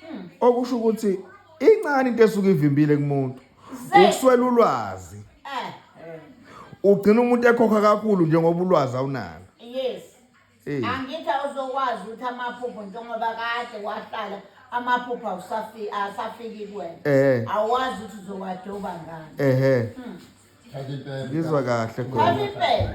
hmm. okusho ukuthi incane into esuke ivimbile kumuntu ukuswela ulwazi eh. ugcina umuntu ekhokha kakhulu njengoba ulwazi awunalo yes eh. angithi awuzokwazi ukuthi amaphupho njengoba kade wahlala amaphupho awusafiki kuwena eh. awazi ukuthi uzowadoba ngani ehe hmm. ngizwa kahle khona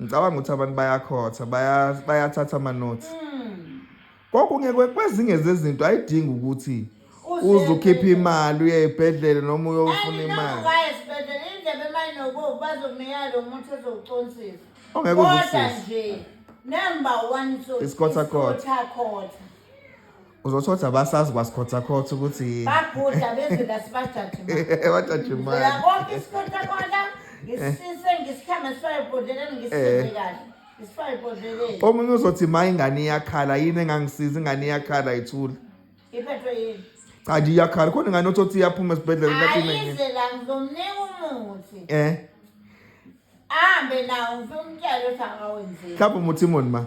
ngicabanga ukuthi abantu bayakhotha bayathatha amanothi hmm. kokunye kwezinye zezinto ayidingi ukuthi uze ukhiphe imali uye ebhedlele noma uyofuna imali ongeke uzisise isikhothakhothha uzothi othi abasazi kwasikhothakhothi ukuthi bagudla bezwe lasibajajimaakonke isikhothakhola ngisise ngisikhama sifayo bhodleleni ngisise kahle omunye uzothi ma ingane iyakhala yini engangisiza ingane iyakhala ithula iphethwe yini cha nje iyakhala khona ingane othi othi iyaphuma esibhedlela ayize la ngizomnika umuthi eh ahambe nawo ngifuna umtshele ukuthi akawenzeki mhlawumbe umuthi imoni ma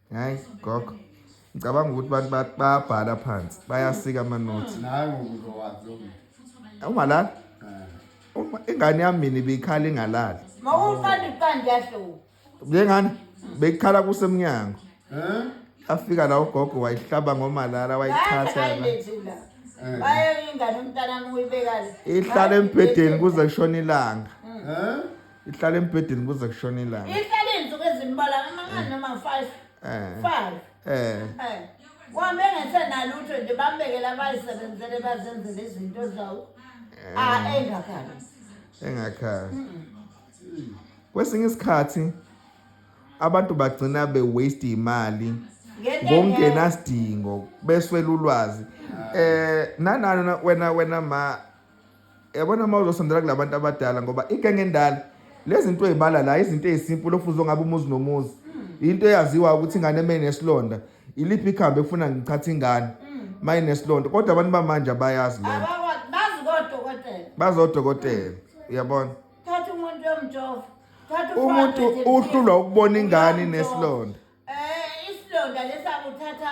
Hayi gogo. Ngicabanga ukuthi abantu ba- bayabhala phansi, bayasika amanothi. Naye ngokuzowazi lo muntu. Ungalala? Eh. Uma ingane yami mina ibikhala ingalali. Mawumfana iqanda yahluka. Njengani bekukhala kusemnyango. Eh? Afika la ugogo wayihlaba ngomalala wayithatha yaba. Bayayilethula. Eh. Bayayingane umntana wami uyibekala. Ihlala embhedeni kuze kushona ilanga. Eh? ihlala embhedeni kuze kushona ilanga ihlala izinsuku ezimbalwa amangani noma 5 eh 5 eh eh kwambe ngesenalutho nje bambekela abayisebenzele bazenzele izinto zawo eh. a ah, engakhali engakhali kwesinye isikhathi abantu bagcina be waste imali ngokungenasidingo beswela ulwazi eh nanana wena wena ma Yabona uma uzosondela kulabantu abadala ngoba igenge endala lezinto ezibala la izinto ezisimple ofuzo ngabe umuzi nomuzi hmm. into eyaziwa ukuthi ingane emene nesilonda iliphi ikhambe efuna ngichatha ingane hmm. maye nesilonda kodwa abantu bamanje abayazi lento bazi kodokotela bazi odokotela uyabona thatha umuntu yomjova thatha umuntu uhlulwa ukubona ingane nesilonda eh isilonda lesakuthatha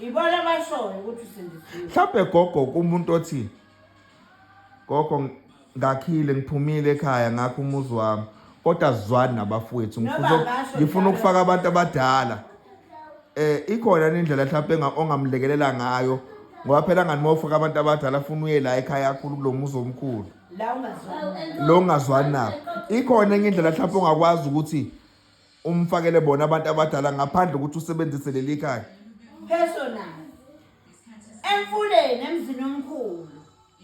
Ibona abashoyo ukuthi usindisiwe. Mhlawumbe gogo kumuntu othi gogo ngakhile ngiphumile ekhaya ngakho umuzi wami kodwa sizwani nabafowethu ngifuna ukufaka abantu abadala eh ikhona indlela mhlawumbe ongamlekelela ngayo ngoba phela ngani mawufaka abantu abadala afuna uye la ekhaya kakhulu kulomuzi omkhulu la ungazwani lo ungazwani nabo ikhona enye indlela mhlawumbe ongakwazi ukuthi umfakele bona abantu abadala ngaphandle ukuthi usebenzise leli khaya personal emfuleni emzini omkhulu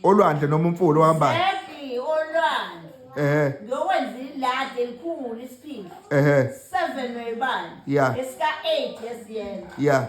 olwandle noma umfula ohambayo exactly olwandle ehe ngiyokwenza iladi elikhulu isiphila ehe seven webani Yeah. esika eight esiyena ya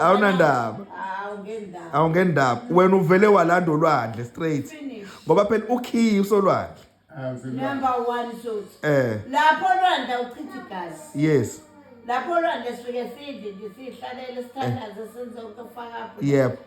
awunandaba awungendaba wena uvele walanda olwandle straight ngoba phela ukhiyi usolwandle number one sot eh lapho olwandle uchitha igazi yes lapho olwandle sifike sidle nje sihlalele sithandaze senze ukufaka yebo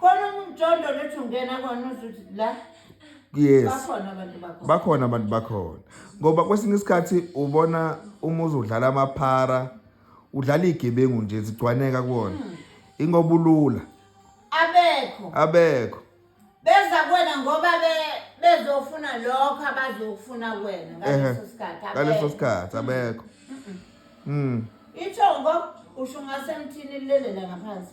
khona umjondo lethi ungena kona uzuthi la yes bakhona abantu bakhona bakhona abantu bakhona ngoba kwesinye isikhathi ubona uma uzodlala amaphara udlala igebengu nje zigcwaneka kuwona hmm. ingoba ulula abekho abekho beza kuwena ngoba be bezofuna lokho abazokufuna kuwena ngaleso sikhathi ngaleso sikhathi abekho mm ithongo usho ngasemthini lilelela ngaphansi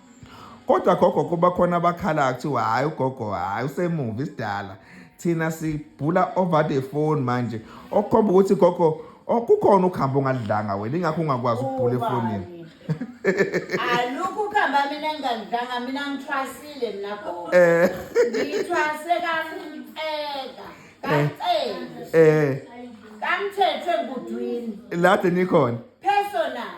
Kodwa gogo kuba khona abakhala kuthiwa hhayi ugogo hhayi usemuva isidala thina sibhula over the phone manje okukhomba ukuthi gogo okukhona ukuhamba ungadlanga wena ingakho ungakwazi ukubhula efonini alukho ukuhamba mina ngingangidlanga mina ngithwasile mina gogo eh. ngithwase kanceka kanceka eh kangithethwe ngudwini lade nikhona personal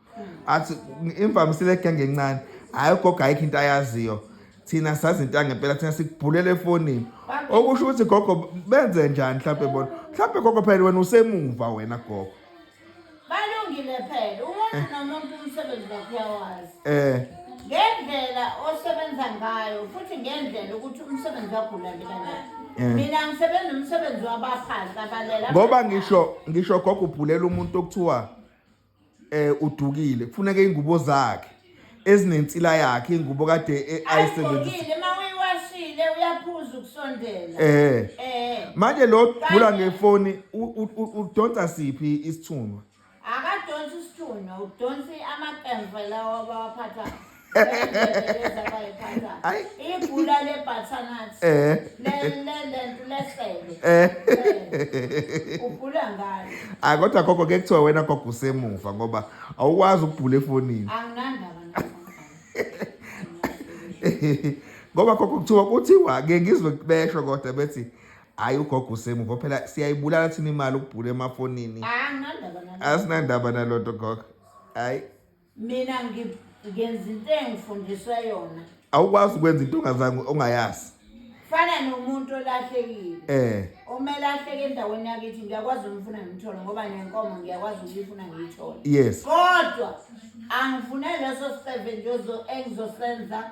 athi imvamisile egenge encane hhayi ugogo ayikho into ayaziyo thina sazi into yangempela thina sikubhulela efonini okusho ukuthi gogo benze njani mhlawumpe bona mhlawumpe gogo phela wena usemuva wena gogo balungile phela umuntu eh. nomuntu umsebenzi wakhe uyawazi eh ngendlela osebenza ngayo futhi ngendlela ukuthi umsebenzi wakho ulandela njani Eh. mina ngisebenza umsebenzi wabaphansi abalela ngoba ngisho ngisho gogo ubhulela umuntu okuthiwa eh udukile kufuneka ingubo zakhe ezinensila yakhe ingubo kade eh, ayisebenzisa ayibukile uma uyiwashile uyaphuza ukusondela eh eh manje lo gula ngefoni u- u- u- udonsa siphi isithunwa akadonsi isithunywa udonsi amaqemva lawa abawaphathayo Ai. ibhula lebhathanathi Eh. lento lesebe Eh. ubhula ngalo Hayi kodwa gogo ke kuthiwa wena gogo usemuva ngoba awukwazi ukubhula efonini. anginandaba nabo Ngoba gogo kuthiwa kuthiwa ke ngizwe besho kodwa bethi hayi ugogo usemuva phela siyayibulala thina imali ukubhula emafonini. anginandaba nabo Asinandaba nalonto gogo. Hayi. mina ngi- ngenza into engifundiswe yona awukwazi ukwenza into ongazange ongayazi fana nomuntu olahlekile eh omele ahleke endaweni yakithi ngiyakwazi ukumfuna ngimthole ngoba nenkomo ngiyakwazi ukuyifuna ngiyithole yes kodwa angifune leso seven nje ozo- engizosenza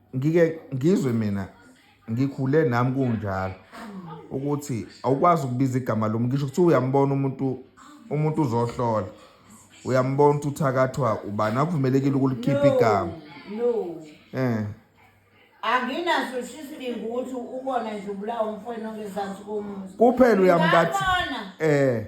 ngike ngizwe mina ngikhule nami kunjalo ukuthi awukwazi ukubiza igama lomuntu ngisho kuthiwa uyambona umuntu umuntu uzohlola uyambona ukuthi uthakathwa ubani akuvumelekile ukulikhipha igama no eh anginaso isibingu ukuthi ubona nje ubulawa umfwena ongezansi komuzi kuphela uyamkathi eh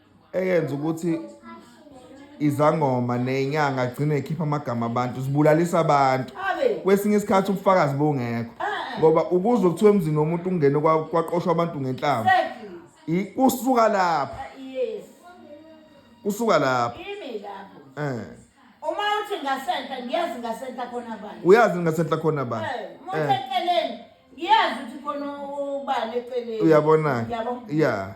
eyenza ukuthi izangoma nenyanga agcine ekhipha amagama abantu zibulalisa abantu kwesinye isikhathi ubufakazi bongekho ah, ah. ngoba ukuze kuthiwa emzini womuntu ungene kwaqoshwa abantu ngenhlamba kusuka lapho ah, kusuka lapho eh uma uthi ngasentla ngiyazi ngasentla khona bani uyazi ngasentla khona bani eh, uma eh. eceleni ngiyazi ukuthi khona ubani eceleni uyabona ya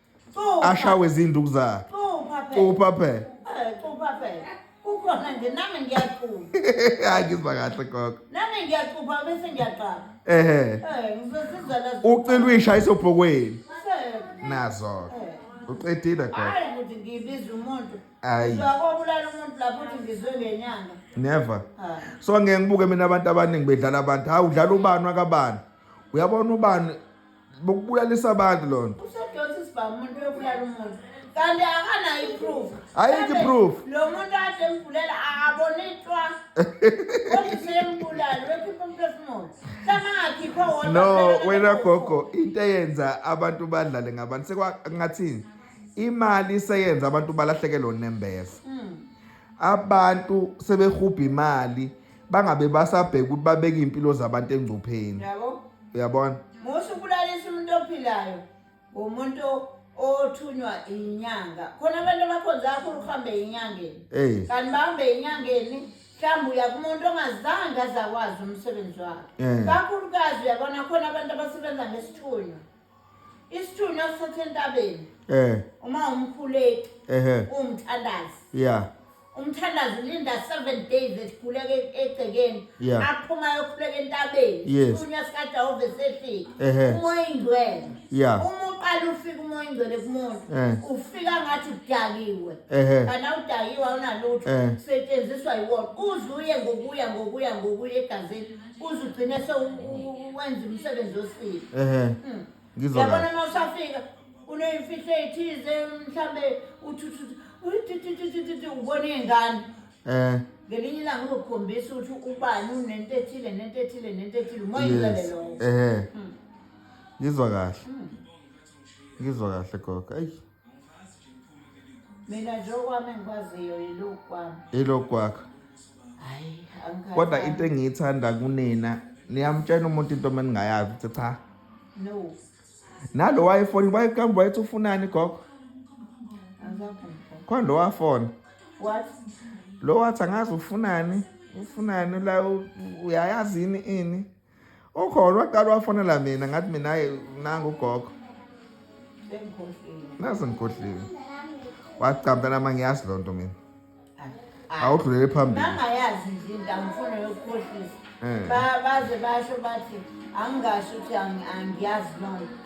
ashawe izinduku zakhe cupha phela cupha phela kukhona nje nami ngiyacupha hayi ngizwa kahle gogo nami ngiyacupha bese ngiyaqala ehe eh ngizosiza la ucela uyisha isobhokweni nazo uqedile gogo hayi ukuthi ngibiza umuntu hayi uzakobulala umuntu lapho uthi ngizwe ngenyanga never ah. so ngeke ngibuke mina abantu abaningi bedlala abantu hawu udlala ubani wakabani uyabona ubani bokubulalisa abantu lona usedonsa isibhamu umuntu uyobulala umuntu kanti akanayo iproof ayikho iproof lo muntu ade mbulala abone itwa kodwa seyembulala wekhipha umphefumulo samangakhipha wona no wena gogo into eyenza abantu badlale ngabantu sekwangathini imali seyenza abantu balahlekelwe unembeza hmm. abantu sebehubha imali bangabe basabheka ukuthi babeke impilo zabantu engcupheni yabo uyabona musa ukulalisa umuntu ophilayo umuntu othunywa inyanga khona abantu abakhonza kakhulu kuhambe enyangeni kanti bahambe enyangeni mhlawumbe uya kumuntu ongazange azakwazi umsebenzi wakhe kakhulukazi uyabona khona abantu abasebenza ngesithunywa Isithunywa sithathe entabeni. Eh. Uma umkhuleki. Ehhe. Umthandazi. Yeah. umthandazi linda seven days esikhuleke egcekeni Yeah. aphuma yokhuleka entabeni Yes. isithunywa sikajehova esefika Ehhe. umoya ingcwele Yeah. uma uqala ufika umoya ingcwele kumuntu Eh. ufika ngathi udakiwe Ehhe. kanti awudakiwe awunalutho Eh. setshenziswa yiwona uze uye ngokuya ngokuya ngokuya egazini uze ugcine sewenza umsebenzi osile ehe hmm. ngizona yabona uma usafika uneyimfihlo eyithize mhlambe uthuthuthi uyithuthuthuthi ubona iy'ngane eh ngelinye ilanga uzokukhombisa ukuthi ubani unento ethile nento ethile nento ethile umoyilele lowo ehe hmm. ngizwa kahle hmm. ngizwa kahle gogo ayi mina nje okwami engikwaziyo yilokhu kwami yilokhu kwakho hayi kodwa into engiyithanda kunina niyamtshena umuntu into uma ningayazi ukuthi cha no nalo wayefoni wayekambe wayethi ufunani gogo khona lo wafona lo wathi angazi ufunani ufunani la uyayazini ini ukhona waqala wafonela mina ngathi mina hayi nangu ugogo nazi ngikhohliwe wacamta nama ngiyazi loo nto mina awudlulele phambili angayazi nje into angifuna yokukhohlisa eh. baze basho bathi angingasho ukuthi angiyazi loo nto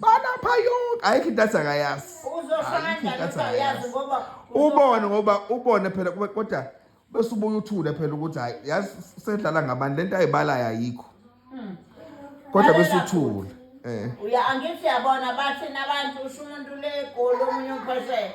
balapha yonke ayikho into athi akayazi uzosho Ayikho into kanjani athi ukuthi uyazi akayazi. ngoba ubone ngoba ubone phela kube- kodwa bese ubuye uthule phela ukuthi hayi yazi sedlala ngabani lento ayibalayo ayikho kodwa bese Lalela uthule eh uya angithi yabona bathina abantu usho umuntu legoli omunye umphesele